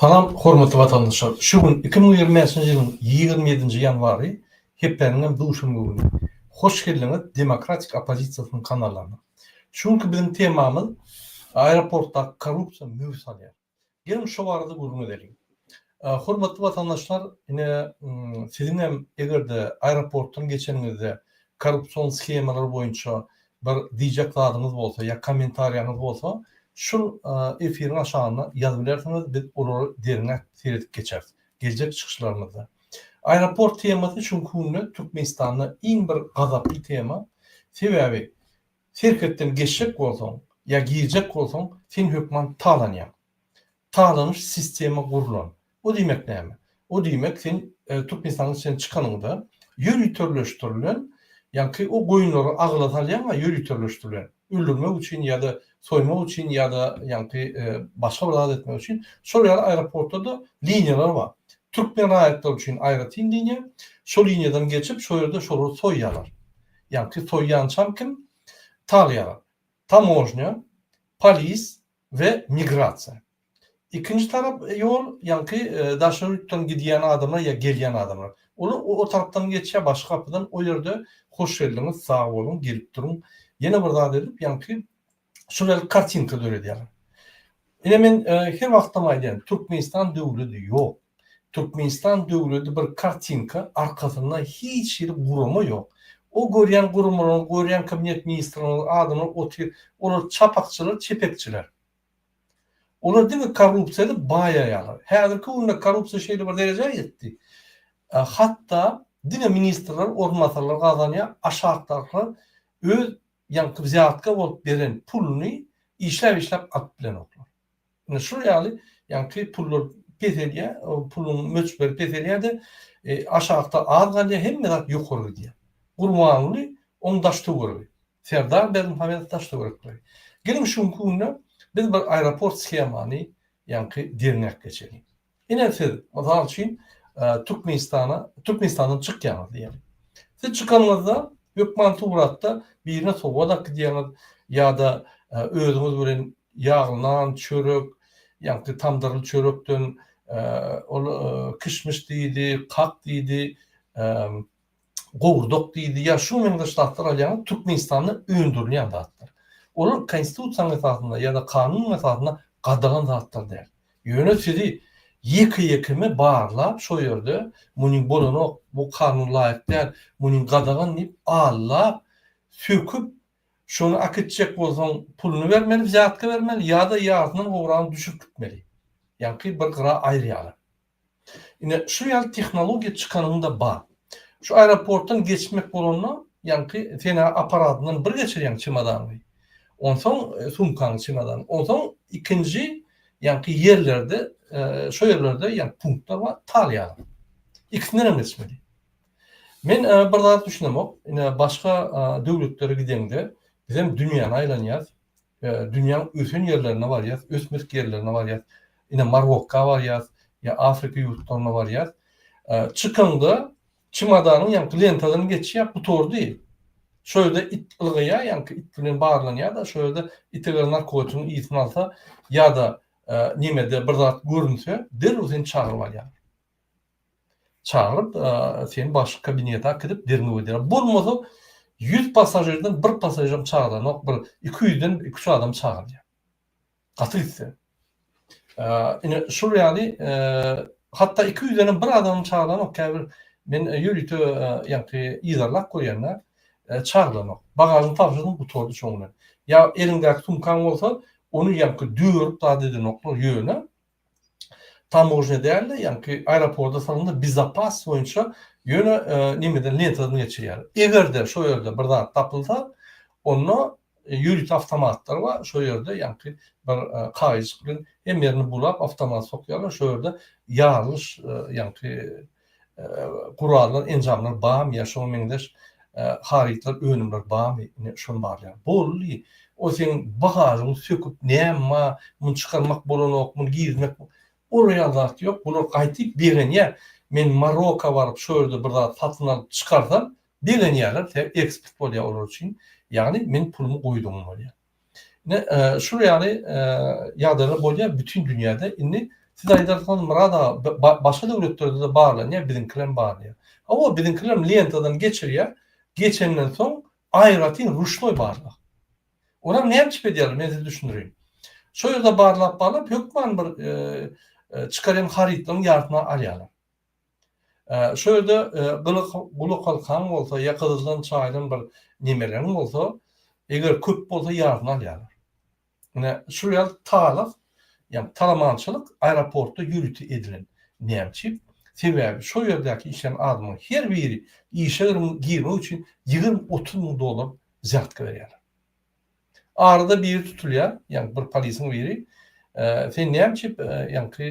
Salam hormatly watandaşlar. Şu gün iki müň ýigrimi bäşinji ýylyň ýigrimi ýedinji ýanwary, hepdäniň hem duşenbe güni. Hoş geldiňiz Demokratik oppozisiýasynyň kanalyna. Şu günki biziň temamyz Aeroportdaky korrupsiýa möwç alýar. Geliň şu barada gürrüň edeliň. Hormatly watandaşlar, ine, siziň hem eger-de aeroportdan geçeniňizde korrupsion shemalar boýunça bir diýjek zadyňyz bolsa ýa kommentariýaňyz bolsa, şul efiriň aşagyna ýazyp bilersiňiz, biz olary derňäp seredip geçeris geljek çykyşlarymyzda. Aeroport temasy şu günki günde Türkmenistanda iň bir gazaply tema. Sebäbi Serhetden geçjek bolsaň ýa girjek bolsaň, sen hökman talanýaň. Talanyş sistema gurlan. O diýmek näme? O diýmek sen Türkmenistanyň içinden çykanyňda ýöriteleşdirilen, ýaňky o goýunlary agyla salýaňa ýöriteleşdirilen, öldürmek üçin ýa-da soýmak üçin ýa-da ýaňky başga bir zat etmek üçin şol ýaly aeroportlarda liniýalar bar. Türkmen raýatlary üçin aýratyn liniýa, şo liniýadan geçip şo ýerde şolary soýýarlar. ýagty soýýançam kim? Talýaga, tamožnýa, polis we migrasiýa. Ikinji tarap ýol, ýagty daşary ýurtdan gidýän adamlar ýa gelýän adamlar. Olar o tarapdan geçýär başga gapydan, o ýerde hoş geldiňiz, sag boluň, gelip duruň, ýene bir zat edip, ýagty şular kartinka döredýärler. Ine men e, her wagtam aýdýan, Türkmenistan döwleti ýok. Türkmenistan döwleti bir kartinka, arkasynda hiç hili gurama ýok. O görýän guramalaryň, görýän kabinet ministrleriniň adyna otyr, olar çapakçylar, çepekçiler. Olar diňe korrupsiýada baýaýarlar. Häzirki günde korrupsiýa şeýle bir derejä ýetdi. E, hatda diňe ministrler, orunbasarlar gazanýar, aşakdakylar öz Ýaňky wzýatka bolup beren puluny işläp-işläp at bilen oklar. Ine, şul ýaly ýaňky pullar peselýär, o puluň möçberi peselýär-de, aşakda az galýar, hemme zat ýokary gidýär. Gurbanguly, oň daş-töweregi. Serdar Berdimuhamedow daş-töwerekleri. Geliň, şu günki günde biz bir aeroport shemany ýaňky derňäp geçeliň. Ine siz, mysal üçin, Türkmenistana, Türkmenistandan çykýaňyz diýeliň. Siz çykanyňyzda hökman suratda birine sowgat akydýaňyz ýa-da özüňiz bilen ýagly nan, çörek, ýagny tamdyrly çörekden, ol kişmiş diýdi, kak diýdi, gowurdak diýildi ýa şuňa meňzeş zatlar alýaňyz Türkmenistanda öndürilýän zatlar. Olar konstitusiýanyň esasynda ýa-da kanunyň esasynda gadagan zatlar däl. Ýöne sizi ýeke-ýekeme barlap şo ýerde muny bolanok, bu kanuna laýyk däl, muny gadagan diýip allap, söküp şony akitjek bolsaň puluny bermeli, wzýatka bermeli ýa-da ýarysyndan gowragyny düşürip gitmeli. Ýaňky bir gyra aýyrýarlar. Ine, şu ýaly tehnologiýa çykanyňda bar. Şu aeroportdan geçmek bolanda, ýaňky sena apparatyndan bir geçirýäň çemodanyňy, onsoň sumkaňy, çemodanyňy, onsoň ikinji ýaňky ýerlerde, şo ýerlerde ýaňky punktlar bar, talýaňy. Ikisinden hem geçmeli. Men bir zat düşünemok, ine, başga döwletlere gideňde, bizem dünýäni aýlanýas, Dünýäň ösen ýerlerine barýas, ösmedik ýerlerine barýas. Ine, Marokka barýas, ýa Afrika ýurtlaryna barýas. Çykaňda çemodanyň ýaňky lentadan geçýär, gutardy. Şo ýerde it ylgaýar, ýaňky it bilen barlanýar-da, şo ýerde it eger narkotigiň ysyn alsa ýa-da nemede bir zat görünse, derrew seni çagyryp alýar. Çagyryp, seni başga kabinete äkidip derňew ederler. Bolmasa, ýüz passažirden bir passažiram çagyranok, bir iki ýüzden iki-üç adam çagyrýar. Gaty gitse. Ine, şol ýaly, hatda iki ýüzdenem bir adamam çagyranok. Käbir men ýörite, ýagty, yzarlap görýän-dä, çagyranok. Bagažyny tabşyrdym, gutardy şoň bilen. Ýa eliňdäki sumkaň bolsa, ony ýagty dörüp zat edenoklar ýöne, tamožnýa däl-de, ýaňky aeroporda salyndy, bezapas boýunça ýöne nemeden, lentadan geçirýär. Eger-de şo ýerde bir zat tapylsa, onda ýörite awtomatlar bar, şo ýerde ýaňky bir kagyzjyk bilen hemme ýerini bulap, awtomat sokýarlar, şo ýerde ýarylyş, ýaňky gurallar, enjamlar barmy ýa şoňa meňzeş harytlar, önümler barmy, ine şony barlaýar. Boldy, o seň bagažyňy söküp näme bar, muny çykarmak bolanok, muny girizmek, ol ýaly zat ýok, bular gaýtyp begenýär. Men Maroka baryp, şo ýerde bir zat satyn alyp çykarsam, begenýärler, sebäbi eksport bolýar olar üçin, ýagny meniň pulumy goýdugyň bolýar. Ne şul ýaly ýagdaýlar bolýar bütin dünýäde. Indi siz aýdarsyňyz Murad aga başga döwletlerde-de barlanýar, biziňkilem bar diýip. Hawa, biziňkilerem lentadan geçirýär, geçenden soň aýratyn ruşnoý barlag. Olam näme üçin edýärler, men size düşündirýin. Şo ýerde barlap-barlap hökman bir çykarýan harytlaryň ýarsyny alýarlar. Şo ýerde gylyk gulak halkaň bolsa, ýakadyjdan çaýdan bir nemereň bolsa, eger köp bolsa ýaryny alýarlar. Ine, şol ýaly talyk, ýagny talamançylyk aeroportda ýörite edilen. Nämçi? Sebäbi şo ýerdäki işleýän adamlaryň her biri işe girmek üçin ýigrimi-otuz müň dollar zýadka berýärler. Arada biri tutulýar, ýagny bir polisiň biri, Sen näme üçin, ýaňky,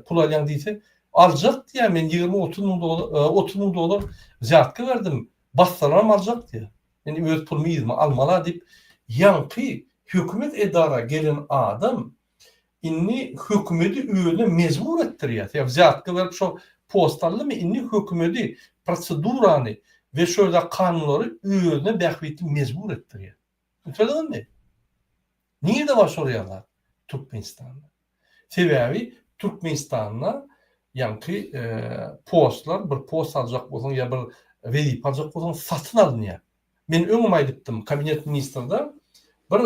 pul alýaň diýse, Aljak diýýär, men ýigrimi-otuz müň dolar, otuz müň dolar wzýatka berdim, bassalaram aljak diýýär. Men öz pulumy yzyma almal-a diýip, ýaňky hökümet edara gelen adam, Indi hökümedi özüne mejbur etdirýär. Sebäbi wzýatka berip şo post aldymy, indi hökümedi, prosedurany we şöyle kanunlary özüne bähbitli mejbur etdirýär. Düşündiňizmi? Nirde bar şo rýazat? Türkmenistanda. Sebäbi Türkmenistanda ýaňky e, postlar bir post aljak bolsaň ýa bir wezipe aljak bolsaň satyn alynýar. Men öňem aýdypdym, kabinet ministrde bir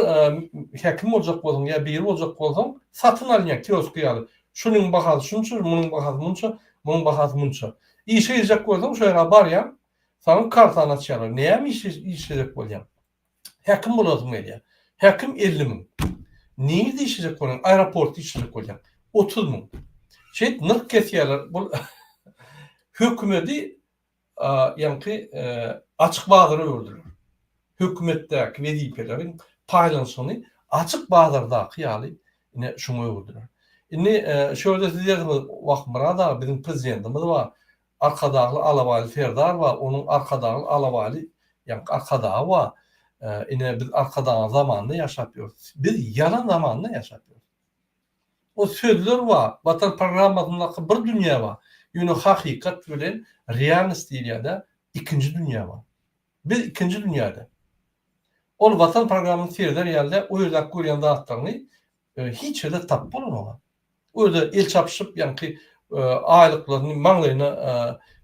häkim boljak bolsaň ýa biri boljak bolsaň, satyn alynýar kiosky ýaly. Şunuň bahasy şunça, munuň bahasy munça, munuň bahasy munça. Işe girjek bolsaň, şo ýere barýaň, saňa kartany açýarlar. Näme işe girjek bolýaň? Häkim bolasym gelýär. Häkim elli müň. Nirede işlejek bolýaň? Aeroportda işlejek bolýaň. Otuz müň. Şeýdip nyrh kesýärler. Bu hökümeti ýaňky açyk bazara öwürdiler. Hökümetdäki wezipeleriň paýlanyşygyny açyk bazardaky ýaly ine şuňa öwürdiler. Indi şu ýerde siz ýazyňyz, Wah, Myrat aga, biziň prezidentimiz bar, Arkadagly alabaýly serdar bar, onuň Arkadagly alabaýly ýaňky Arkadagy bar. Ine, biz Arkadagyň zamanynda ýaşap ýörüs. Biz ýalan zamanda ýaşap ýörüs. O sözler bar, Watan programmasyndaky bir dünýä bar, ýöne hakykat bilen realnost diýilýärde ikinji dünýä bar. Biz ikinji dünýäde. Ol Watan programmany sereder ýalyda o ýerdäki görýän zatlaryňy hiç ýerde tapyp bolamaga. O ýerde el çapyşyp ýaňky aýlyklaryny maňlaýyna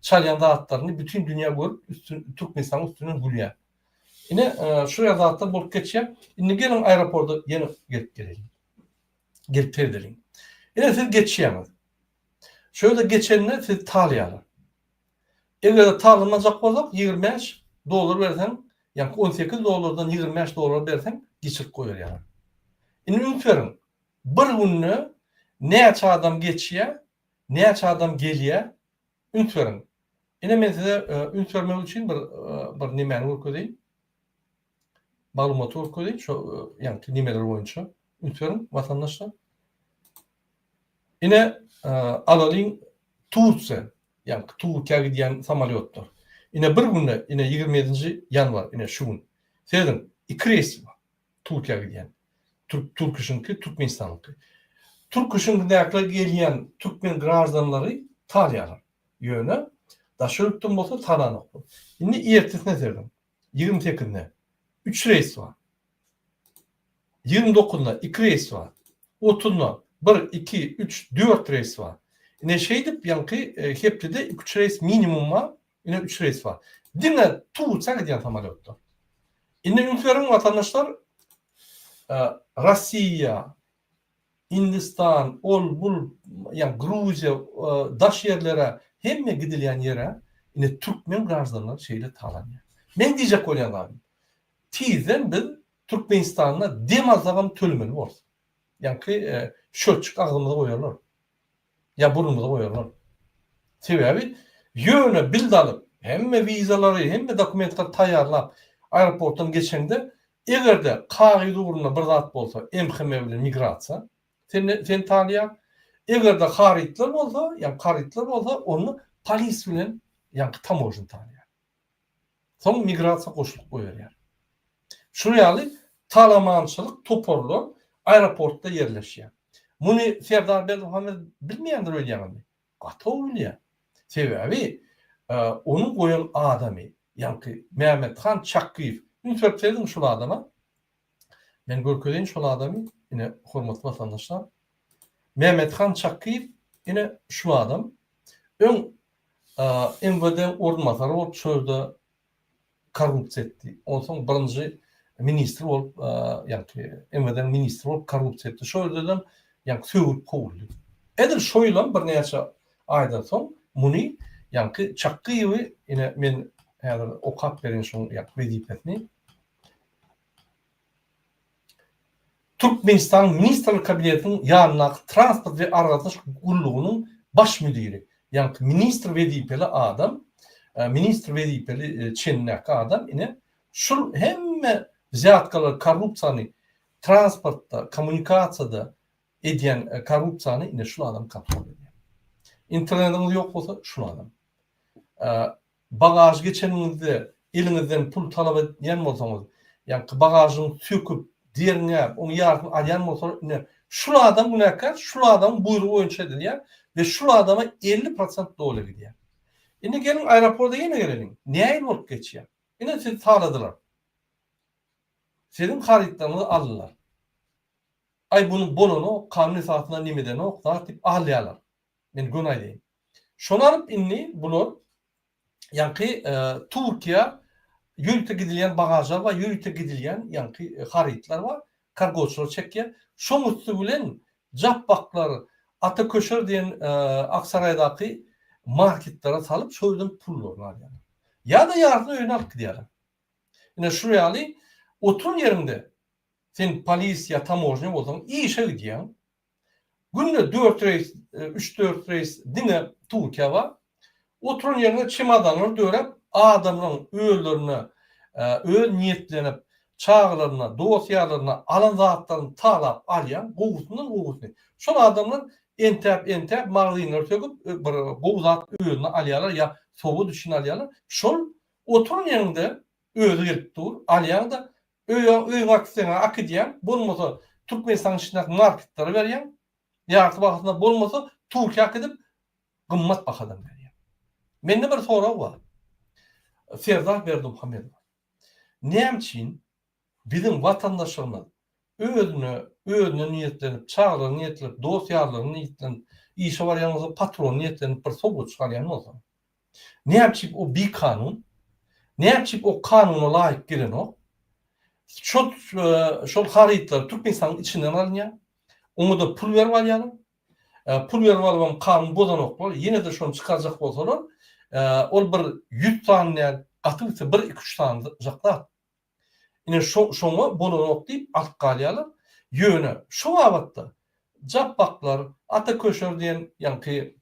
çalýan zatlaryny bütin dünýä görüp üstün Türkmenistanyň üstünden gülýär. Ine şular zatlar bolup geçýär. Indi geliň aeroporda ýene gelip geleýin. Gelip seredeliň. Ine siz geçýäňiz. Şöyle geçende sizi talaýarlar. Eger talamajak bolsak ýigrimi bäş dollar berseň, ýaňky on sekiz dollardan ýigrimi bäş dollar berseň geçirip goýberýärler. Indi üns beriň. Bir günde näçe adam geçýär, näçe adam gelýär? Üns beriň. Ine men size üns bermek üçin bir bir nemäni görkezeýin. maglumaty görkezýin şo ýaňky nimeler boýunça üns beriň watandaşlar. Ine alalyň Tursiýa ýaňky Turkiýa gidýän samolýotlar. Ine bir günde ine 27-nji ýanwar ine şu gün sezin iki reýs Turkiýa gidýän. Türk Türküşinki Türkmenistanyňky. Türküşindäkler gelýän türkmen graždanlary talýarlar. Ýöne daşary ýurtdan bolsa talanoklar. Indi ertesine sezin. Ýigrimi sekizinde üç reýs bar. Ýigrimi dokuzynda iki reýs bar. Otuzynda bir, iki, üç, dört reýs bar. Ine, şeýdip, ýaňky hepdede iki-üç reýs minimum bar, ine, üç reýs bar. Diňe Turuça gidýän samolýotlar. Indi üns beriň, watandaşlar, Rossiýa, Indistan ol bul ýa Gruziýa daş ýerlere hemme gidilýän ýere ine türkmen graždanlary şeýle talanýar. Meň diýjek bolýan zadym tizden biz Türkmenistanda dem alsagam tölemeli borus. Ýaňky şölçik agzymyza goýarlar. ýa burnumyzy goýarlar. Sebäbi ýöne bilt alyp, hemme wizalary, hemme dokumentleri taýýarlap, aeroportdan geçeňde, eger-de kagyz ugrunda bir zat bolsa, MHM bilen migrasiýa seni seni tanýar. Eger-de harytlar bolsa, ýa karytlar bolsa, onda polis bilen ýaňky tamožni tanýar. Soň migrasiýa goşulyp goýulýar. Şu ýaly talamançylyk toparlar aeroportda ýerleşýär. Muny Serdar Berdimuhamedow bilmeýändir öýdýäňizmi? Gatow bilýär. Sebäbi onuň goýan adamy, ýaňky Mämmethan Çakgyýew. Üns berip seredin şul adama. Men görkezeýin şol adamy, ine, hormatly watandaşlar. Mämmethan Çakyýew, ine, şu adam. Öň MWD orunbasary bolup, şu ýerde korrupsiýa etdi. Onsoň birinji ministr bolup, ýagny MWD-niň ministri bolup korrupsiýa etdi. Şol ýerden ýagny sögülip kowuldy. Edil şo ýylam birnäçe aýdan soň muny, ýagny Çakyýewi, ine, men häzir okap bereýin şoň wezipesini. Türkmenistanyň Ministrler Kabinetiniň ýanyndaky Transport we aragatnaşyk gullugynyň Baş müdiri, ýaňky ministr wezipeli adam, ministr wezipeli çenindäki adam ine, şul hemme wzýatkalary, korrupsiýany, transportda, kommunikasiýada edýän korrupsiýany ine şul adam kontrol edýär. Internetiňiz ýok bolsa, şul adam. Bagaž geçeniňizde eliňizden pul talap edýän bolsaňyz, ýaňky bagažyň söküp, derňäp, oň ýarysyny alýan bolsalar, ine, şul adam günäkär, şul adamyň buýrugy boýunça edilýär we şul adama elli prosent doly gidýär. Indi geliň aeroporda ýene geleliň. Näil bolup geçýär? Ine sizi taladylar. Siziň harytlaryňyzy aldylar. Aý buny bolanok, kanun esasynda nemedenok zat diýip alýarlar. Men göni aýdaýyn. Şony alyp indi bular ýaňky Türkiýä ýörite gidilýän bagažlar bar, ýörite gidilýän ýaňky harytlar bar, kargoçylar çekýär. Şoň üsti bilen japbaklar Ata Köşer diýen Aksaraýdaky marketlere salyp, şol ýerden pullaryny alýarlar. Ýa-da ýarysyny öýüne alyp gidýärler. Ine şu ýaly oturan ýeriňde sen polis ýa tamožnýa bolsaň işe gidýäň, Günde dört reýs, üç-dört reýs diňe Türkiýä bar. Oturan ýeriňe çemodanlar döräp, adamlaryň özlerine, öz niýetlenip, çagalaryna, dost-ýarlaryna alan zatlaryny talap alýan, gowusyndan gowusyny. Şol adamlar entäp-entäp magazynlary söküp, bir gowy zat özüne alýarlar ýa sowgat üçin alýarlar. Şol oturan ýeriňde özi gelip dur, alýaň-da, Öýe öý gaz isteseňä akydýaň, bolmasa Türkmenistanyň içindäki marketlere berýäň, ýarty bahasynda, bolmasa Türkiýä akydip gymmat bahadan berýäň. Mende bir sorag bar. Serdar Berdimuhamedowa. Näme üçin biziň watandaşlarymyz özüne özüne niýetlenip, çagalara niýetlenip, dost ýarlara niýetlenip işe barýan bolsa patrona niýetlenip bir sowgat çykarýan bolsa. Näçip o bikanun? Näçip o kanuna laýyk gelenok? Şol şol harytlar Türkmenistanyň içinden alynýar. Oňa-da pul berip alýarlar. Pul berip alybam kanun bozanoklar. Ýene-de şony çykarjak bolsalar, ol bir ýüz sany däl, gaty bitse bir iki-üç sany zat. Ine, şo-şoňa bolanok diýip alyp galýarlar. Ýöne, şo babatda Japbaklar, Ata Köşer diýen ýaňky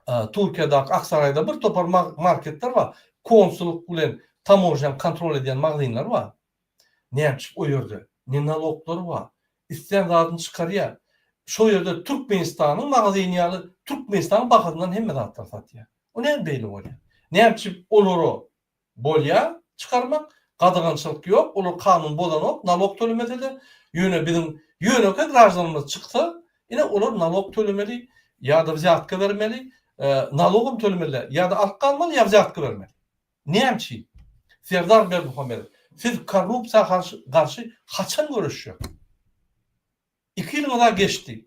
Turkiýadaky Aksaraýda bir topar ma-marketler bar. Konsullyk bilen tamožnýany kontrol edýän magazynlar bar. Nätjip o ýerde? Ne naloglary bar? Islän zadyny çykarýar. Şo ýerde Türkmenistanyň magazyny ýaly Türkmenistanyň bahasyndan hemme zatlary satýar. O näme beýle bolýar? Nätjip olara bolýar çykarmak, gadagançylyk ýok, olar kanun bozanok, nalog tölemese-de, ýöne biziň ýönekeý graždanymyz çyksa, ine olar nalog tölemeli ýa-da wzýatka bermeli, nalogam tölemeliler, ýa-da alyp galmaly, ýa wzýatka bermeli. Näme üçin? Serdar Berdimuhamedow, siz korrupsiýa garşy haçan göreşjek? Iki ýyl gyza geçdi.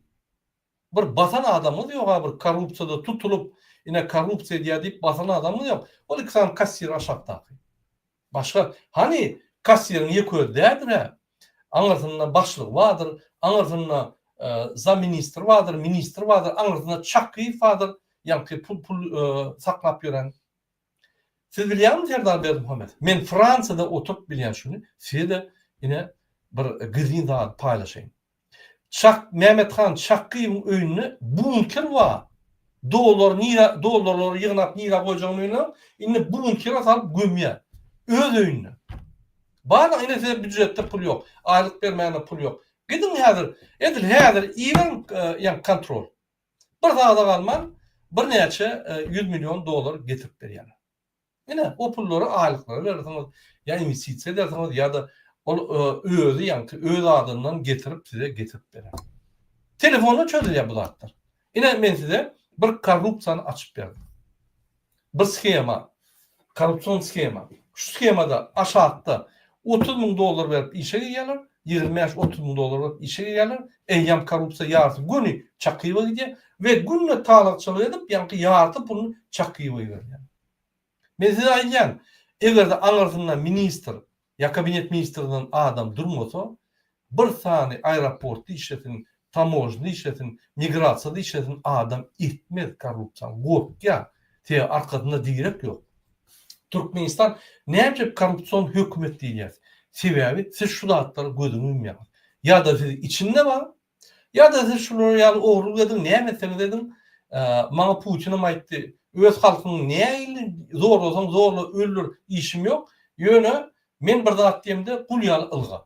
Bir basan adamyňyz ýog-a bir korrupsiýada tutulyp, ine korrupsiýa edýär diýip basan adamyňyz ýok. Ol iki sany kassir aşakdaky. Başga, hany kassiriň ýeke özi däldir-ä. Aňyrsynda başlygy bardyr, aňyrsynda zaministr bardyr, ministr bardyr, aňyrsynda Çakyýew bardyr, ýaňky pul saklap ýören. Siz bilýäňmi Serdar Berdimuhamedow, men Fransiýada oturyp bilýän şuny size-de ine bir gyzgyn zady paýlaşaýyn. Çak Mämmethan Çakyýewiň öýünde bunker bar. Dollar nirä dollarlary ýygnap nirä goýjagyny bilmän, indi bunkere salyp gömýär. Öz öýünde. Barlyk ine size býujetde pul ýok. Aýlyk bermäne pul ýok. Gidiň häzir, edil häzir iberiň ýa kontrol. Bir zada galman birnäçe ýüz million dollar getirip berýärler. Ine, o pullary aýlyklara berersiňiz, ýa inwestisiýa edersiňiz, ýa-da ol özi, ýagny öz adyndan getirip size getirip berer. Telefonda çözülýär bu zatlar. Ine, men size bir korrupsiýany açyp berdim. Bir shema, korrupsion shema. Şu shemada aşakda otuz müň dollar berip işe girýärler, ýigrimi bäş, otuz müň dollar berip işe girýärler, eýýäm korrupsiýa ýarysy göni Çakyýewa gidýär we günde talakçylyk edip ýaňky ýarty pulyny Çakyýewa iberýär. Men size aýdýan, egerde aňyrsynda ministr, Ýa kabinet ministrinden adam durmasa, bir sany aeroport dişesin, tamojna dişesin, migrasiýa dişesin adam etmez korrupsiýany, gorkýar, sebäbi arkasynda direk ýok. Türkmenistan näme üçin korrupsion hökümet diýilýär? Sebäbi siz şu zatlara gözüňiz ýumýaňyz. Ýa-da siz içinde bar, Ýa-da siz şular ýaly ogrulyk ediň, näme etseňiz ediň, maňa Putinim aýtdy, öz halkyňy nähili zorlasaň zorla, öldür, işim ýok, ýöne men bir zat diýemde gul ýaly ylga.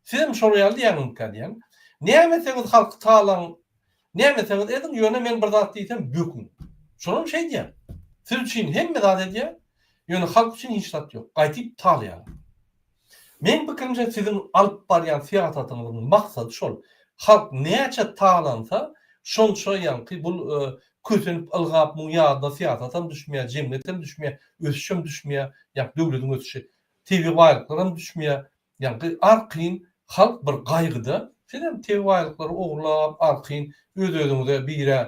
Siz hem şolar ýaly diýýäňizmikä diýýän. Näme etseňiz halky talaň, näme etseňiz ediň, ýöne men bir zat diýsem böküň. Şolam şeý diýýän. Siz üçin hemme zat edýän, ýöne halk üçin hiç zat ýok. Gaýtyp talaýarlar. Meň pikirimçe siziň alyp barýan syýasatyňyzyň maksady şol, halk näçe talansa şonça ýaňky bul kösenip ylgap muň ýadyna syýasatam düşmeýär, jemgyýetem düşmeýär, ösüşem düşmeýär, ýa döwlediň ösüşi, tebigy baýlyklaram düşmeýär, ýaňky arkaýyn halk bir gaýgyda, sizem tebigy baýlyklary ogurlap arkaýyn öz özüňize birä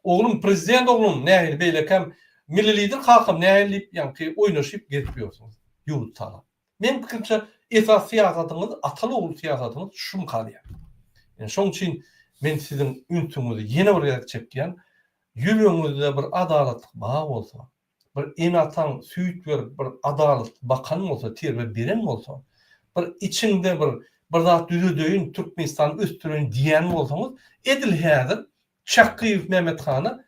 oglum prezident oglum nähili beýlekäm milli lider kakam nähili diýip ýaňky oýnaşyp gezip ýörsüňiz. Ýurt saga. Meň pikirimçe esas syýasatyňyz ataly ogul syýasatyňyz şum galýar. Ýöne şoň üçin men siziň ünsüňizi ýene bir gezek çekýän ýüregiňizde bir adalatlyk bar bolsa bir ene ataň süýt berip bir adalat bakan bolsa terbe beren bolsa bir içiňde bir bir zat düzedeýin Türkmenistany ösdüreýin diýen bolsaňyz edil häzir Çakyýew Mehmet hana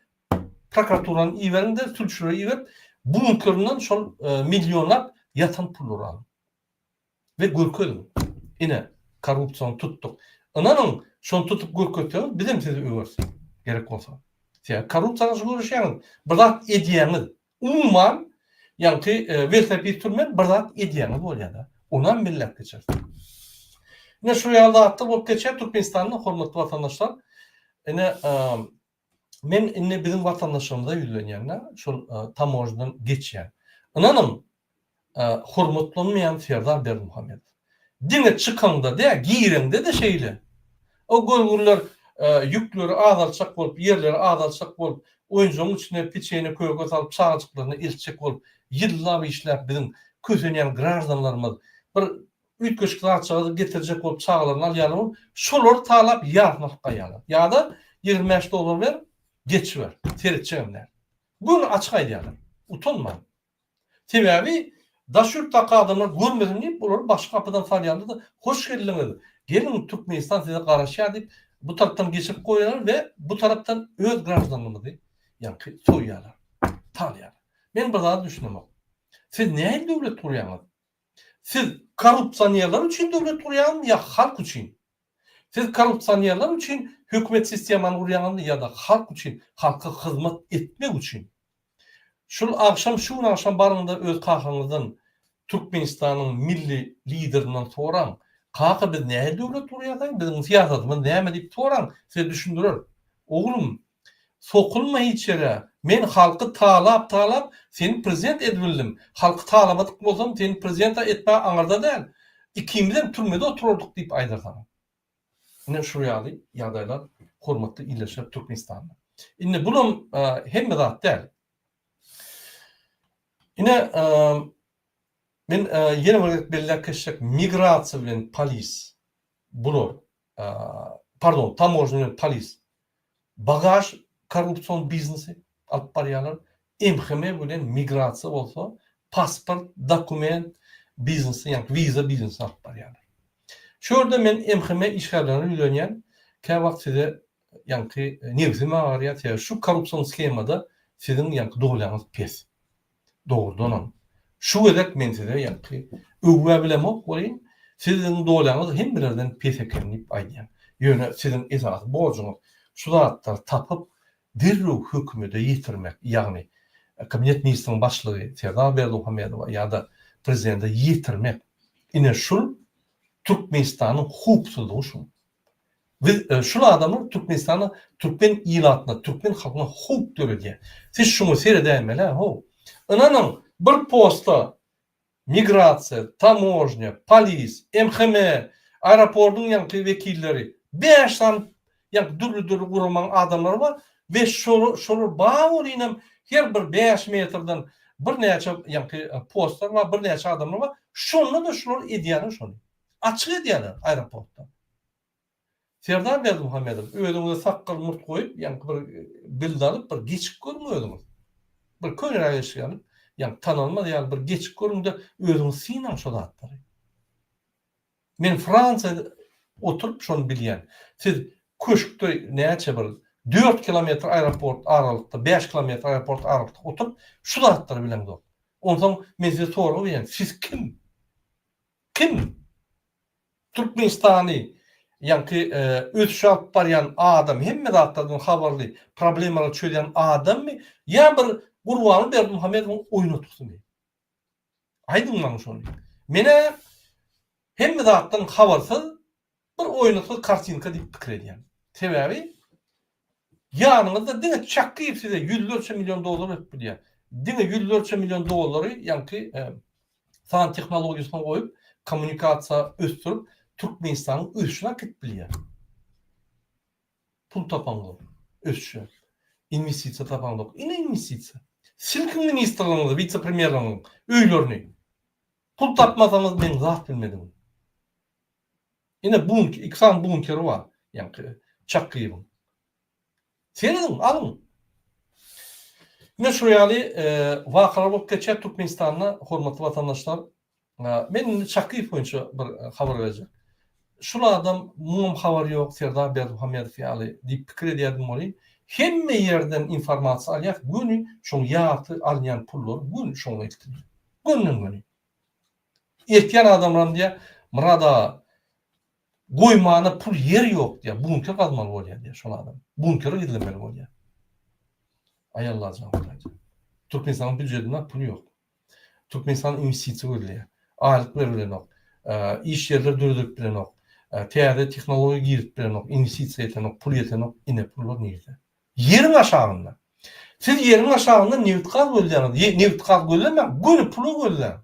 Prokuraturany iberiň-de, sülçüleri iberip, bunkerinden şol millionlap ýatan pullary alyň we görkeziň. Ine, korrupsiýany tutduk. Ynanyň, şony tutup görkezseňiz, biz hem sizi öweris, gerek bolsa. Sebäbi korrupsiýa garşy göreşýäňiz, bir zat edýäňiz. Umuman, ýagty welosiped sürmän bir zat edýäňiz bolýar-da. Ony hem belläp geçeris. Ine, şu ýaly zatlar bolup geçýär Türkmenistanda, hormatly watandaşlar. Ine, Men indi biziň watandaşlarymyza ýüzlenýän-de, şol tamojnadan geçýän. Ynanyň, hormatlanmaýan Serdar Berdimuhamedow. Diňe çykaňda dä, gireňde-de şeýle. O görgürler ýükleri azaltjak bolup, ýerleri azaltjak bolup, oýunjagyň içine peçenýe köke salyp, çagajyklaryny eltjek bolup, ýyllap işläp biziň kösenýän graždanlarymyz bir Üýtgeşik zatjagazy getirjek bolup çagalaryny alýarlar bolup, şolary talap ýarysyny alyp gaýýarlar. Ýa-da ýigrimi bäş dollar ber, geçiber, seretjegem däl. Göni açyk aýdýarlar. Utanmaň. Sebäbi daş ýurtdaky adamlar görmesin diýip, olary başga gapydan salýarlar-da, Hoş geldiňiz, geliň Türkmenistan size garaşýar diýip, bu tarapdan geçirip goýýarlar we bu tarapdan öz graždanymyzy ýaňky soýýarlar, talýarlar. Men bir zada düşünemok. Siz nähili döwlet gurýaňyz? Siz korrupsionerler üçin döwlet gurýaňyzmy ýa halk üçin? Siz korrupsionerler üçin hökümet sistemany gurýaňyzmy ýa-da halk üçin, halka hyzmat etmek üçin? Şul agşam şu gün agşam baryňda öz kakaňyzdan Türkmenistanyň milli liderinden soraň, kaka biz nähili döwlet gurýas aý, biziň syýasatymyz näme diýip soraň, size düşündirer. Oglum Sokulma hiç ýere. Men halky talap talap seni prezident edbildim. Halky talabadyk bolsam seni prezidenta etme aňyrda däl. Ikimizem türmede oturardyk diýip aýdar saňa. Ine şu ýaly ýagdaýlar hormatly ildeşler Türkmenistanda. Indi bunam hemme zat däl. Ine men ýene bir gezek belläp geçjek migrasiýa bilen polis bular pardon, tamožnýa polis, bagaž korrupsion biznesi alyp barýarlar, MHM bilen migrasiýa bolsa pasport, dokument biznesi, ýagny wiza biznesi alyp barýarlar. Şu ýerde men MHM işgärlerine ýüzlenýän, käwagt size ýaňky nebsim agarýar, sebäbi şu korrupsion shemada siziň ýaňky dolýaňyz pes. Dogrudanam, şu gezek men size ýaňky öwgä bilemok welin, siziň dolaňyz hemmelerden pes eken diýip aýdýan. Ýöne siziň esasy borjuňyz şu zatlary tapyp, derrew hökümede ýetirmek, ýagny Kabinet ministriniň başlygy Serdar Berdimuhamedowa ýa-da prezidente ýetirmek. Ine şul Türkmenistanyň howpsuzlygy şuň. Biz şul adamlar Türkmenistana Türkmen ilatyna Türkmen halkyna howp döredýär. Siz şuňa seredäýmelä how. Ynanyň bir posta migrasiýa, tamožnýa, polis, MHM, aeropordyň ýaňky wekilleri bäş sany ýaňky dürli dürli guramaň adamlary bar we şolar bar welinem her bir bäş metrden birnäçe ýaňky postlar bar birnäçe adamlar bar şonda-da şular edýärler şony. Açyk edýärler aeroportda. Serdar Berdimuhamedow, özüňize sakgal-murt goýup, ýaňky bir bild alyp, bir geçip görüň özüňiz. Bir köneräk eşik alyp, ýaňky tanalmaz ýaly bir geçip görüň-de, özüňiz synaň şo zatlary. Men Fransiýada oturyp şony bilýän. Siz köşkde näçe bir dört kilometr aeroport aralykda, bäş kilometr aeroport aralykda oturyp, şu zatlary bileňzok. Onsoň men size sorag berýän, siz kim? Kim Türkmenistany ýaňky ösüş alyp barýan adam, hemme zatlardan habarly, problemalary çözýän adammy ýa bir Gurbanguly Berdimuhamedowyň oýnatgysymy? Aýdyň maňa şony. Men-ä hemme zatdan habarsyz, Bir oýnatgy kartinka diýip pikir edýän. Sebäbi ýanyňyzda diňe Çakyýew size ýüzlerçe million dollar berip bilýär. Diňe ýüzlerçe million dollary ýaňky san tehnologiýasyna goýup, kommunikasiýa ösdürip, Türkmenistanyň ösüşine äkitip bilýär. Pul tapaňda ösüşe, inwestisiýa tapaňda ine inwestisiýa. Silkiň ministrligiňizi, wise-premýerligiňiň öýlerini. Pul tapmasaňyz meň zat bilmedigim. Ine bunki iki sany bunkeri bar ýaňky Çakgyýewiň. Serediň, alyň. Ine şu ýaly wakalar bolup geçýär Türkmenistanda hormatly watandaşlar. Men indi Çakgyýew boýunça bir habar berjek. Şul adam muňam habary ýok Serdar Berdimuhamedow ýaly diýip pikir edýärdim welin hemme ýerden informasiýa alýas göni şoň ýarty alynýan pullary göni şoňa gitdi. Günüň güni. Ekýän adamlaram diýýär, Myrat aga, goýmana pul ýer ýok diýýär, bunker gazmaly bolýar diýýär şol adam. Bunkere gizlemeli bolýar. Aý Alla jan Hudaýjan. Türkmenistanyň býujetinde pul ýok. Türkmenistan inwestisiýa gözleýär. Aýlyk berip bilenok. Iş ýerleri döredip bilenok. Täze tehnologiýa girip bilenok. Inwestisiýa ýetenok, pul ýetenok. Ine pullar nirde? Ýeriň aşagynda. Siz ýeriň aşagynda nebit-gaz gözleýäňiz. Ýe, nebit-gaz gözlemäň, göni pula gözläň.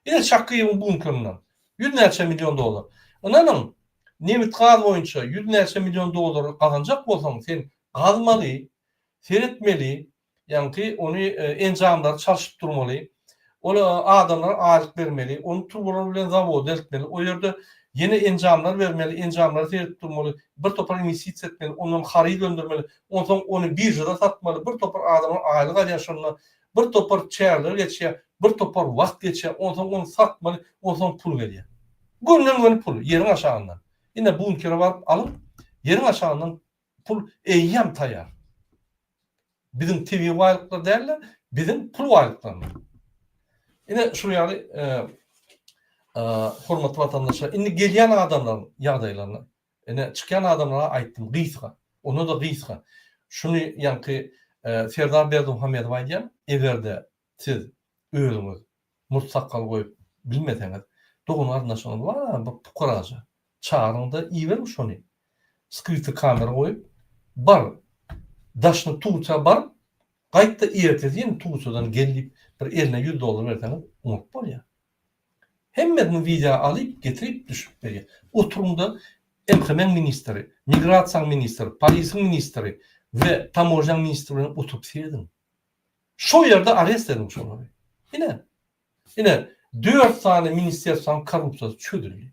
Ine, Çakyýewiň bunkerinden ýüz näçe million dollar. Ynanyň, nebit-gaz boýunça ýüz näçe million dollary gazanjak bolsaň, sen gazmaly, seretmeli, ýaňky ony enjamlary çalşyp durmaly. Ol adamlara aýlyk bermeli, ony turbalar bilen zawoda eltmeli, o ýerde ýene enjamlar bermeli, enjamlary seredip durmaly, bir topar inwestisiýa etmeli, ondan haryt öndürmeli, onsoň ony biržada satmaly, bir topar adamlar aýlyk alýar şonda, bir topar çärler geçýär, bir topar wagt geçýär, onsoň ony satmaly, onsoň pul gelýär. Göwünden-göwün pul, ýeriň aşagyndan. Ine, bunkere baryp alyň, ýeriň aşagyndan Pul eýýäm taýýar. Biziň tebigy baýlyklar däl-de, biziň pul baýlyklarymyz. Ine, şunuň ýaly hormatly watandaşlar, indi gelýän adamlaryň ýagdaýlaryna, ine, çykýan adamlara aýtdym, gysga, onda-da gysga. Şuny ýaňky Serdar Berdimuhamedow aýdýar, eger-de Siz özüňiz murt sakgal goýup bilmeseňiz dogan garyndaşyňyz bar bir pukaraja çagyryňda iberiň şony skryty kamera goýup bar daşyny tuwça baryp gaýtda ertesi ýene tuwçadan gel diýip bir eline ýüz dollar berseňiz oňat bolýa hemmesini wideo alyp getirip düşürip berýä oturyňda MHM-iň ministri migrasiýaň ministri polisiň ministri we tamožnýaň ministri bilen oturyp serediň. Şol ýerde arest ediň şolary. Ine. Ine, dört sany ministrsiýanyň korrupsiýasy çözüldi.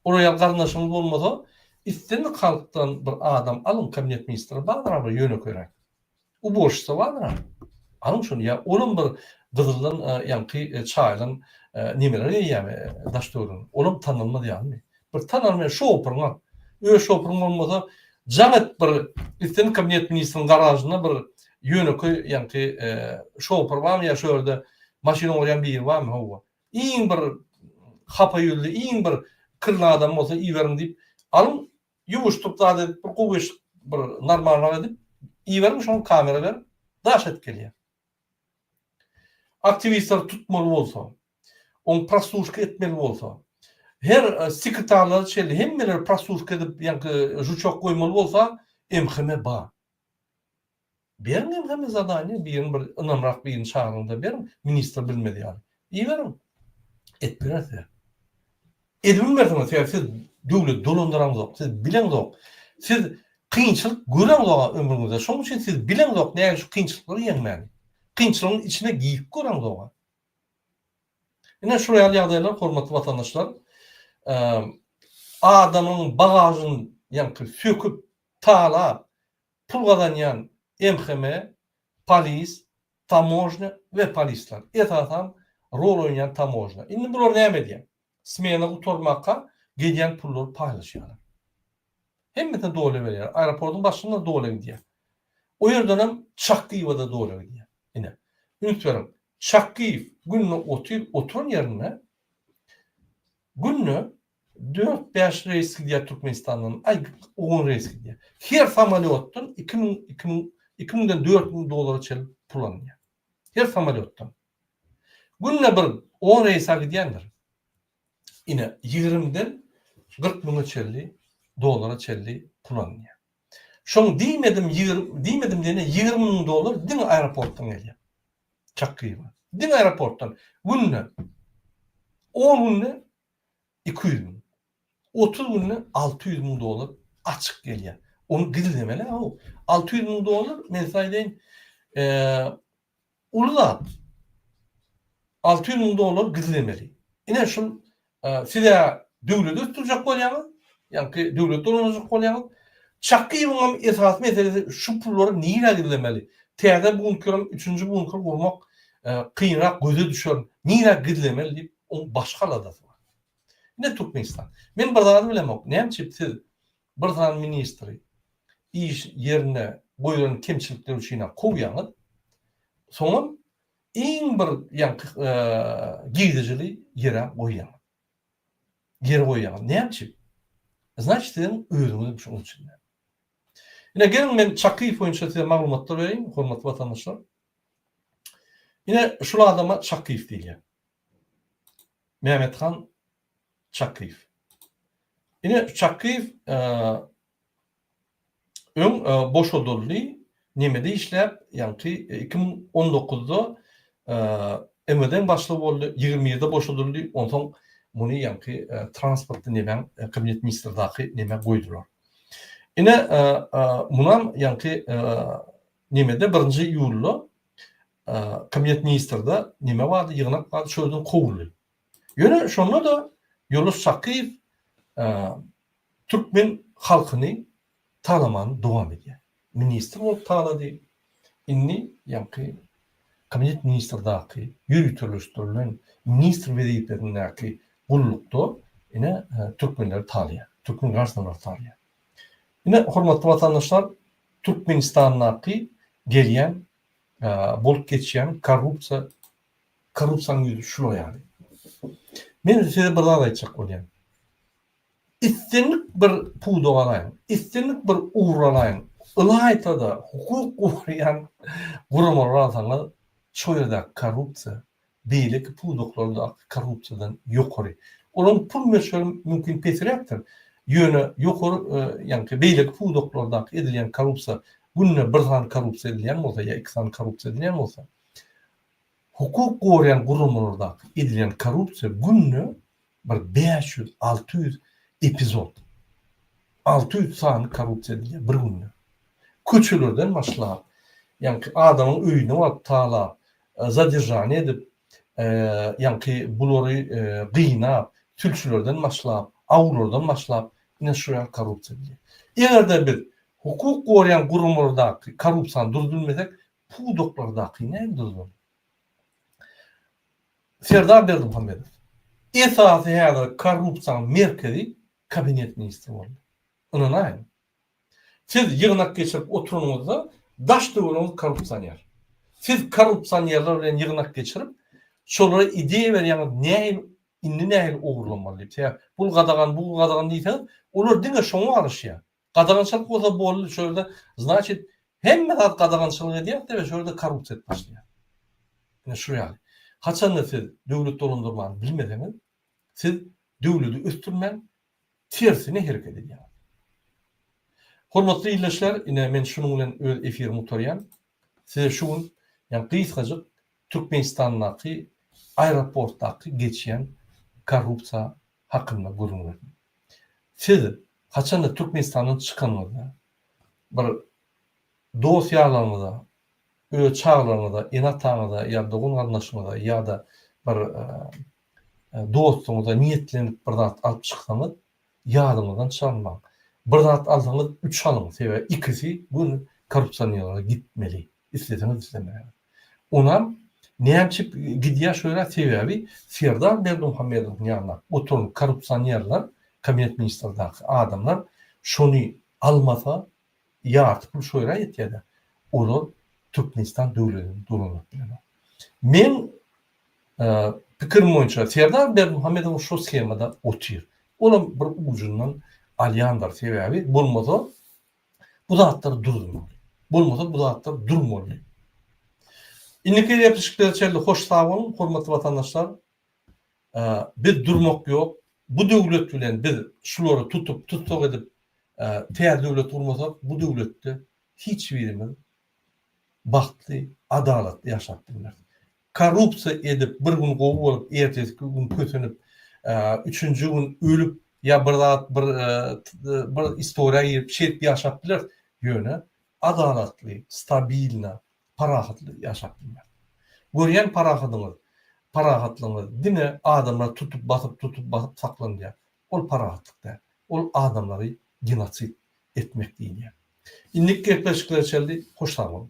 Oraýa garyndaşyňyz bolmasa, islendik halkdan bir adam alyň, kabinet ministri bardyr aga ýönekeýräk. Uborşica bardyr aga. Alyň şony ýa olam bir gyzyldan ýaňky çaýdan nemeler eýýämi daş-töweregine. Olam tanalmaz ýalymy? Bir tanar men şu opuryňam. Öz şopuryň bolmasa jaň et bir gitsin kabinet ministriň garažynda bir ýönekeý ýaňky şopur barmy ýa şu ýerde maşyn ogurýan biri barmy howwa. Iň bir hapa ýüzli iň bir kirli adam bolsa iberiň diýip alyň ýuwuşdyryp zat edip bir gowyşyk bir normalrak edip iberiň şoňa kamera beriň daş edip gelýär. Aktiwistleri tutmaly bolsa Ol prostushka etmeli bolsa. Her sekretarlar şeýle hemmeler prostushka edip ýaňky žuçok goýmaly bolsa MHM bar. Beriň MHM zadaniýa birini bir ynamrak birini çagyryňda beriň ministr bilmez ýaly. Iberiň. Etdirer size. Edbilmersiňiz sebäbi siz döwleti dolandyraňzok siz bileňzok. Siz kynçylyk göreňzok ömrüňizde şoň üçin siz bileňzok näme şu kynçylyklary ýeňmäni. Kynçylygyň içine girip göreňzok. Ine, şular ýaly ýagdaýlar, hormatly watandaşlar, adamyň bagažyny ýaňky söküp, talap, pul gazanýan MHM, polis, tamožnýa we polisler, esasan, rol oýnaýan tamožnýa. Indi bular näme edýär? Smena gutarmaka gelýän pullary paýlaşýarlar. Hemmesine doly berýär. Aeroportyň başynda doly gidýär. O ýerdenem Çakgyýewa-da doly gidýär. Ine, üns beriň, Çakgyýew günde otyr, oturan ýerinde günde dört-bäş reýs gidýär Türkmenistandan, aý, on reýs gidýär. Her samolýotdan iki müň, iki müň, iki müňden dört müň dollara çenli pul alynýar. Her samolýotdan. Günde bir on reýsa gidýändir. Ine, ýigrimiden kyrk müňe çenli, dollara çenli pul alynýar. Şoň diýmedim, ýigrim, diýmedim diýende ýigrimi müň dollar diňe aeroportdan gelýär. Çak gyýma. Diňe aeroportdan günde, on günde iki ýüz müň, otuz günde alty ýüz müň dollar açyk gelýär. Ony gizlemeli-ä-ow. Alty ýüz müň dollar, men size aýdaýyn, eee, Uly zat. Alty ýüz müň dollar gizlemeli. Ine şul siz ýa döwleti ösdürjek bolýaňyz, ýa-ki döwleti dolandyrjak bolýaňyz. Çakyýewiň hem esasy meselesi şu pullary nirä gizlemeli. Täze bunker, üçünji bunker gurmak kynrak göze düşer. Nirä gizlemeli diýip, oň başga aladasy bar. Ine Türkmenistan. Men bir zady bilemok. Näme üçin siz Bir sany ministri iş ýerinde goýlan kemçilikleri üçin-ä kowýaňyz. Soňam iň bir ýaňky girdejili ýere goýýaňyz. Ýere goýýaňyz. Näme üçin? Znaçt siziň özüňizem şoň üçin. Ine geliň men Çakyýew boýunça size maglumatlar bereýin, hormatly watandaşlar. Ine şul adama Çakyýew diýilýär. Mämmethan Çakyýew. Ine, Çakyýew öň boşadyldy. Nemede işläp, ýaňky iki müň on dokuzda MWD-niň başlygy boldy, ýigrimi birde boşadyldy, onsoň muny ýaňky transportly nemäň, kabinet ministrdaky neme goýdular. Ine, munam ýaňky nemede birinji iýulda kabinet ministrde neme bardy, ýygnak bardy, şol ýerden kowuldy. Ýöne şonda-da Ýunus Çakyýew türkmen halkyny talamany dowam edýär. Ministr bolup talady, indi ýaňky Kabinet ministrdaky ýöriteleşdirilen ministr wezipesindäki gullukda ine türkmenleri talaýar, türkmen graždanlaryny talaýar. Ine, hormatly watandaşlar, Türkmenistandaky gelýän, bolup geçýän korrupsiýa Korrupsiýanyň ýüzi şular ýaly. Men size bir zat aýtjak bolýan. Islendik bir puda garaýyň, islendik bir ugra garaýyň, ylaýta-da hukuk goraýan guramalary alsaňyz, şo ýerdäki korrupsiýa beýleki pudaklardaky korrupsiýadan ýokary. Olaryň pul möçberi mümkin pesiräkdir, ýöne ýokary, ýagny beýleki pudaklardaky edilýän korrupsiýa, günde bir sany korrupsiýa edilýän bolsa ýa iki sany korrupsiýa edilýän bolsa, Hukuk goraýan guramalardaky edilen korrupsiýa günde bir bäş ýüz, alty ýüz epizod, alty ýüz sany korrupsiýa edilýär bir günde. Köçelerden başlap, ýaňky adamyň öýüne baryp talap, zadержание edip, ýaňky bulary gynap, sülçülerden başlap, awulardan başlap, ine şu ýaly korrupsiýa edilýär. Eger-de biz hukuk goraýan guramalardaky korrupsiýany durup bilmesek, pudaklardaky näme duzlar? Serdar Berdimuhamedow, Esasy häzir korrupsiýanyň merkezi kabinet ministri boldy. Ynanaýyň. Siz ýygnak geçirip oturanyňyzda daş-töweregiňiz korrupsioner. Siz korrupsionerler bilen ýygnak geçirip, şolara ideýa berýäňiz, nähili, indi nähili ogurlamaly diýip. Sebäbi pul gadagan, bu gadagan diýseňiz, olar diňe şoňa garaşýar. Gadagançylyk bolsa boldy şu ýerde znaçit hemme zat gadagançylyk edýär diýip şu ýerde korrupsiýa edip başlaýar. Ine şu ýaly. Haçanda siz döwlet dolandyrmany bilmeseňiz siz döwleti ösdürmän tersine hereket edýäňiz. Hormatly ildeşler ine men şunuň bilen öz efirimi gutarýan. Size şu gün ýa gysgajyk Türkmenistandaky aeroportdaky geçýän korrupsiýa hakynda gürrüň berdim. Siz haçanda Türkmenistandan çykanyňyzda bir dost ýarlaryňyza, öz çagalaryňyza, ene-ataňyza ýa dogan-garyndaşyňyza ýa-da bir dostuňyza niýetlenip bir zat alyp çyksaňyz, Ýadyňyzdan çykarmaň. Bir zat alsaňyz üç alyň sebäbi ikisi göni korrupsionerlere gitmeli isleseňiz islemäňiz. Onam nämçip gidýär şu ýere sebäbi Serdar Berdimuhamedowyň ýanynda oturan korrupsionerler kabinet ministrdaky adamlar şony almasa ýarty pul şoýra ýetýär-de, olar Türkmenistan döwletini dolandyryp bilenok. Meň pikirim boýunça Serdar Berdimuhamedow şo shemada otyr. Olam bir ujundan alýandyr, sebäbi bolmasa bu zatlar durdurmaly. Bolmasa bu zatlar durmaly. Indiki gepleşikler içerli hoş sag boluň, hormatly watandaşlar. Biz durmak ýok. Bu döwlet bilen biz şulary tutup, tussag edip, täze döwlet gurmasak, bu döwletde hiç birimiz bagtly, adalatly ýaşap bilmeris. Korrupsiýa edip, bir gün gowy bolup, ertesiki gün kösenip, üçünji gün ölüp ýa bir zat, bir bir istoriýa girip, şeýdip ýaşap bileris. Ýöne adalatly, stabilna, parahatly ýaşap bilmek. Görýän parahadyňyz, parahatlygyňyz diňe adamlary tutup, basyp, tutup, basyp saklanylýar. Ol parahatlyk däl. Ol adamlary genosid etmek diýilýär. Indiki gepleşikler çenli hoş sag boluň.